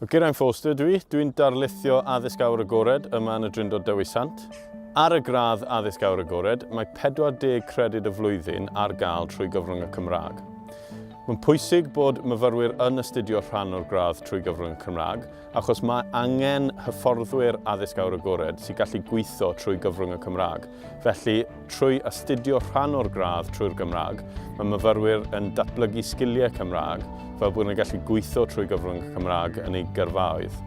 Geraint Forster dw i. Dw i'n darlithio Addysg Aur Agored yma yn y Drindod Dewi Sant. Ar y gradd Addysg Aur Agored, mae 40 credyd y flwyddyn ar gael trwy gyfrwng y Cymraeg. Mae'n pwysig bod myfyrwyr yn astudio rhan o'r gradd trwy gyfrwng y Cymraeg, achos mae angen hyfforddwyr Addysg Aur Agored sy'n gallu gweithio trwy gyfrwng y Cymraeg. Felly, Trwy astudio rhan o'r gradd trwy'r Gymraeg, mae myfyrwyr yn datblygu sgiliau Cymraeg fel bod yn gallu gweithio trwy gyfrwng y Cymraeg yn eu gyrfaoedd.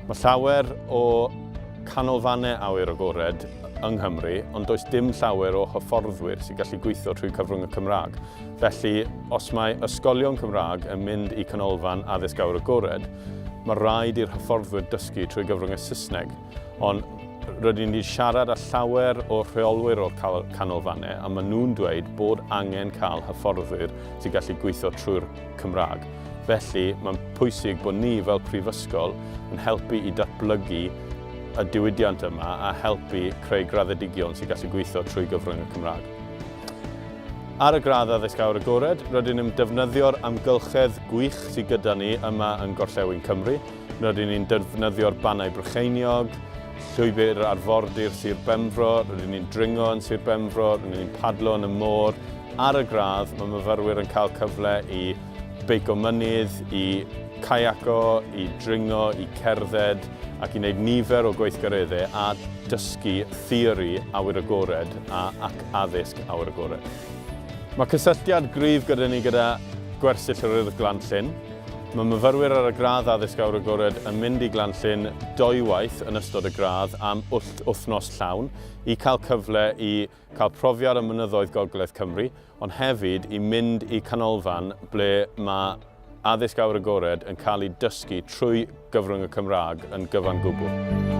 Mae llawer o canolfannau awyr agored yng Nghymru, ond does dim llawer o hyfforddwyr sy'n gallu gweithio trwy cyfrwng y Cymraeg. Felly, os mae ysgolion Cymraeg yn mynd i canolfan addysg awyr agored, mae rhaid i'r hyfforddwyr dysgu trwy gyfrwng y Saesneg. Ond rydyn ni wedi siarad â llawer o rheolwyr o'r canolfannau a maen nhw'n dweud bod angen cael hyfforddwyr sy'n gallu gweithio trwy'r Cymraeg. Felly, mae'n pwysig bod ni fel prifysgol yn helpu i datblygu y diwydiant yma a helpu creu graddedigion sy'n gallu gweithio trwy gyfrwng y Cymraeg. Ar y gradd addysg awyr agored, rydyn ni'n defnyddio'r amgylchedd gwych sydd gyda ni yma yn Gorllewin Cymru. Rydyn ni'n defnyddio'r Bannau Brycheiniog, llwybr arfordir Sir Benfro, rydyn ni'n dringo yn Sir Benfro, rydyn ni'n padlo yn y môr, ar y gradd mae myfyrwyr yn cael cyfle i beico mynydd, i caiaco, i dringo, i cerdded ac i wneud nifer o gweithgareddau a dysgu theori awyr agored a, ac addysg awyr agored. Mae cysylltiad gryf gyda ni gyda Gwersyll yr Urdd Glan Llyn, Mae myfyrwyr ar y gradd Addysg Aur Agored yn mynd i Glan-llyn dwywaith yn ystod y gradd am wllt wythnos llawn i cael cyfle i cael profiad y mynyddoedd gogledd Cymru ond hefyd i mynd i canolfan ble mae Addysg Aur Agored yn cael ei dysgu trwy gyfrwng y Cymraeg yn gyfan gwbl.